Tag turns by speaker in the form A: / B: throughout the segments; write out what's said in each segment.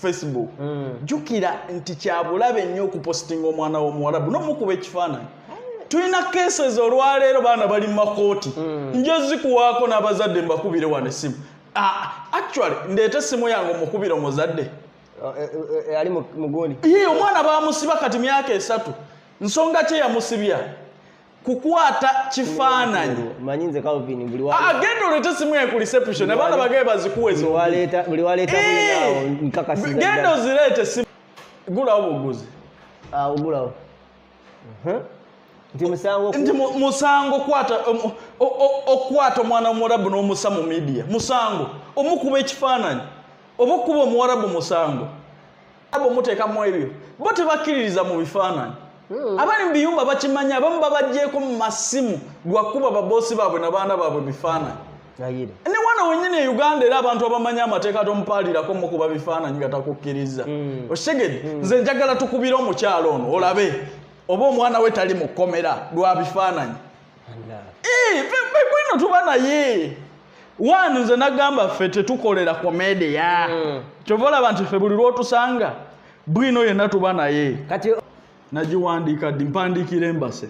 A: facebook mm. jukira nti kyabulabe nnyo okupositinga omwana womuwalabu nomukuba ekifaananyi tulina cases olwaleero baana bali mu makooti mm. nja zikuwaako n'abazadde mbakubire wano essimu ah, actually ndeeta essimu yange omukubire omuzadde Eh, eh,
B: eh, ali mu- muguni ye omwana bamusiba
A: kati myaka esatu nsonga kye yamusibya kukwata kifaananyi manyi nze calvin
B: buli wa- agenda olete simu ye
A: ku reception abaana bagaye bazikuwe buli waleeta buli waleeta
B: Eh! bulinawo nkakasiza genda ddala. ozireete
A: simu gulawo buguzi awo gulawo nti musango okukwata omwana w'omuwarabu n'omusa mu midiya musango omukuba ekifaananyi oba okukuba omuwarabu musango abo muteekamu ebyo bo tebakkiririza mu bifaananyi hmm. abali mu biyumba bakimanyi abamu babajjeeko mu masimu gwakuba baboosi baabwe na baana baabwe bifaananyi ne wano wenyini e uganda era abantu abamanyi amateeka tomupaalirako mukuba bifaananyi nga takukkiriza mm. okitegede mm. nze njagala tukubire omukyalo ono olabe oba omwana we tali mu kkomera lwa bifaananyi bwino tuba naye wani nze nagamba ffe tetukolera komedia mm. kyova olaba nti ffe buli lwotusanga bwino yenna tuba naye nagiwandiika ddi mpandiikira embase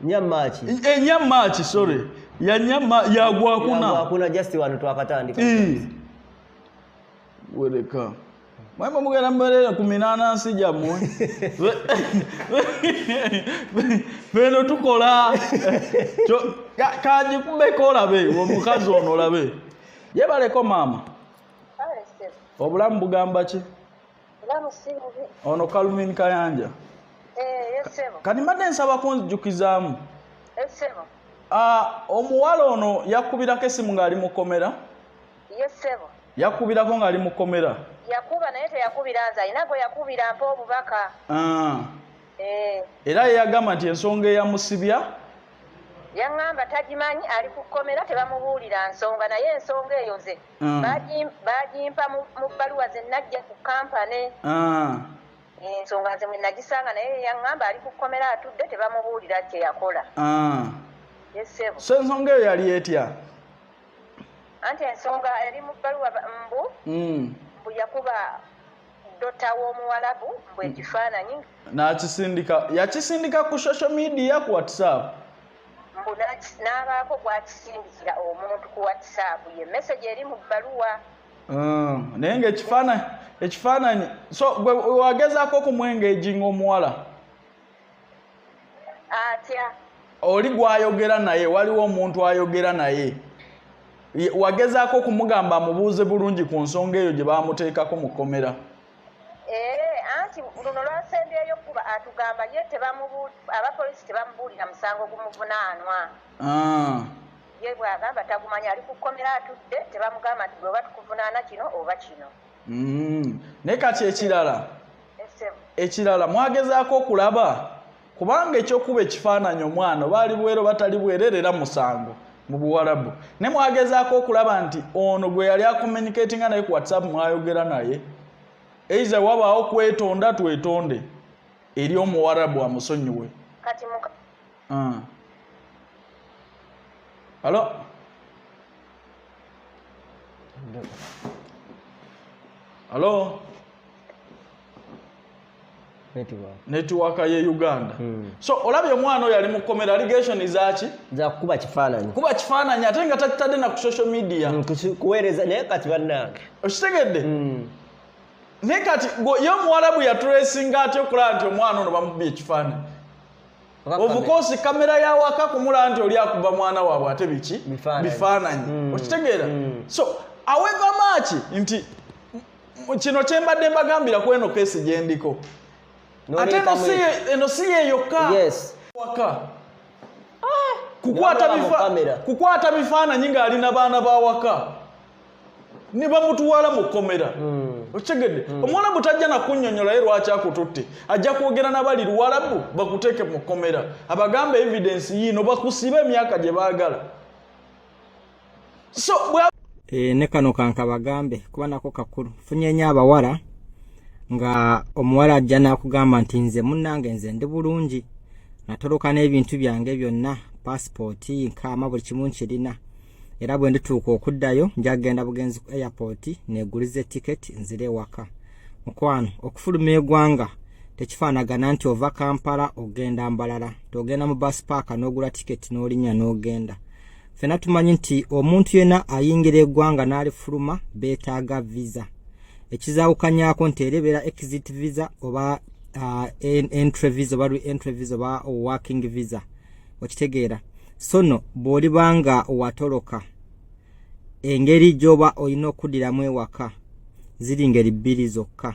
A: nyamaki e nyamaki sorry ya nyama ya gwa kuna ya kuna just wanu twakatandika
B: e
A: weleka mwema mugera mbalera kuminana nsi jamwe beno tukola cho kaji kumbe kola be wo mukazi ono labe yebaleko mama obulamu bugamba ki ono kalumini kayanja eh,
C: kati mbadde nsaba
A: kunzijukizaamu eh,
C: ah,
A: omuwala ono yakubirako esimu ng'ali mukomera
C: yakubirako
A: ng'ali mukomera yakuba naye
C: teyakubira nze alina gwe yakubira mpa obubaka ah. eh.
A: era yeyagamba nti ensonga eyamusibya
C: yaŋŋamba tagimanyi ali ku kkomera tebamubuulira nsonga naye ensonga eyo nze mm. bagimpa mu bbaluwa ze najja ku kampane ah. ensonga nze mwe nagisanga naye yaŋŋamba ali ku kkomera atudde tebamubuulira kye yakola ah. yesebo so ensonga eyo
A: yali etya
C: anti ensonga eri mu bbaluwa mbu mm. mbu yakuba dota w'omuwalabu mbu ekifaananyi nakisindika yakisindika
A: ku social media ku whatsapp mbu
C: n'abaako gw'akisindikira omuntu ku whatsapp ye message eri mu bbaluwa ah,
A: naye nga ekifaananyi ekifaananyi so gwe wagezaako okumwengeji ng'omuwala
C: atya oli
A: gwayogera naye waliwo omuntu ayogera naye wagezaako okumugamba amubuuze bulungi ku nsonga eyo gye bamuteekako mu kkomera Ee,
C: anti luno lwasembyeyo kuba atugamba ye tebamubu aba polisi tebamubuulira musango gumuvunaanwa ah. ye bw'agamba tagumanya ali ku kkomera atudde tebamugamba nti bweoba tukuvunaana kino oba kino mm.
A: naye kati ekirala ekirala mwagezaako okulaba kubanga ekyokuba ekifaananyi omwana baali bwero batali bwerere era musango mu buwalabu ne mwagezaako okulaba nti ono gwe yali akomunikatinga naye ku whatsapp mwayogera naye eiza wabaawo kwetonda twetonde eri omuwarabu amusonyiwe
C: ah.
A: alo alo netiwaka ye uganda hmm. so olabye omwana oyo ali mu komera allegation zaki zakukuba kifaananyi
B: kuba kifaananyi ate nga takitadde
A: na ku social media hmm, kuweereza naye
B: kati bannange okitegedde
A: hmm. naye kati ye omuwarabu yaturesinga aty okulaba nti omwana ono bamubye ekifaananyi obukosi kamera yawaka kumula nti oli akuba mwana waabwe ate biki bifaananyi okitegeera so aweva maaki nti kino kyembadde mbagambira ku eno keesi gyendiko ate eno si yeyokka waka ah! kukwata bifaananyi ng'ali na baana ba waka ne bamutwala mu kkomera hmm. okitegedde hmm. omuwalabu tajja nakunyonyola ye lwaki akututte ajja kwogera nabali luwalabu bakuteeke mu kkomera abagamba evidence yiino bakusiba emyaka gye baagala so e, ne kano
D: kankabagambe kuba nako kakulu funyenya abawala nga omuwala ajja nakugamba nti nze munange nze ndi bulungi natoloka n'ebintu byange byonna pasipooti nkaama buli kimu nkirina era bwe ndituuka okuddayo njagenda bugenzi ku airport neguliza etiketi nzire ewaka mukwano okufuluma egwanga tekifaanagana nti ova kampala ogenda mbalala togenda mu bus paaka n'ogula tiketi n'olinnya n'ogenda no fena tumanyi nti omuntu yena ayingira egwanga nalifuluma betaga visa ekizawukanyako nti erebera exit visa oba uh, entry visa oba re entry visa oba working visa okitegeera sono bwolibanga watoloka engeri gyoba olina okudiramu ewaka ziri ngeri bbiri zokka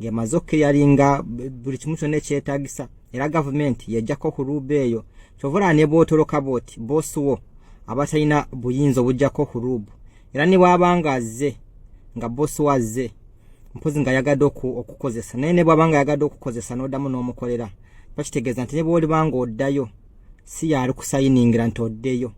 D: ng'emaze okukeyalinga buli kimu kyonna ekyetagisa era gavumenti yajjako okuruuba eyo kyova olaba ne bwotoloka bwoti boosi wo aba talina buyinza obujjako okuruubu era ne bwaba nga azze nga boosi wo azze mpozi nga ayagadde okukozesa naye ne bwaba nga ayagadde okukozesa n'oddamu n'omukolera bakitegeeza nti ne bwolibanga oddayo si yaali kusayiningira nti oddeyo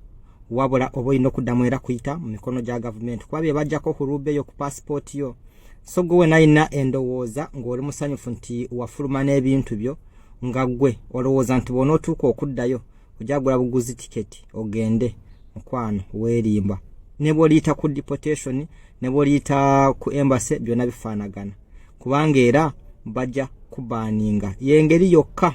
D: wabula oba olina okuddamu era kuyita mu mikono gya gavumenti kuba bye bajjako ku ruube yo ku paasipooti yo so gwe wena alina endowooza ng'oli musanyufu nti wafuluma n'ebintu byo nga gwe olowooza nti bwona otuuka okuddayo ojagula buguzi tiketi ogende mukwano weerimba ne bwoliyita ku deportation ne bwoliyita ku embase byonna bifaanagana kubanga era bajja kubaninga yengeri yokka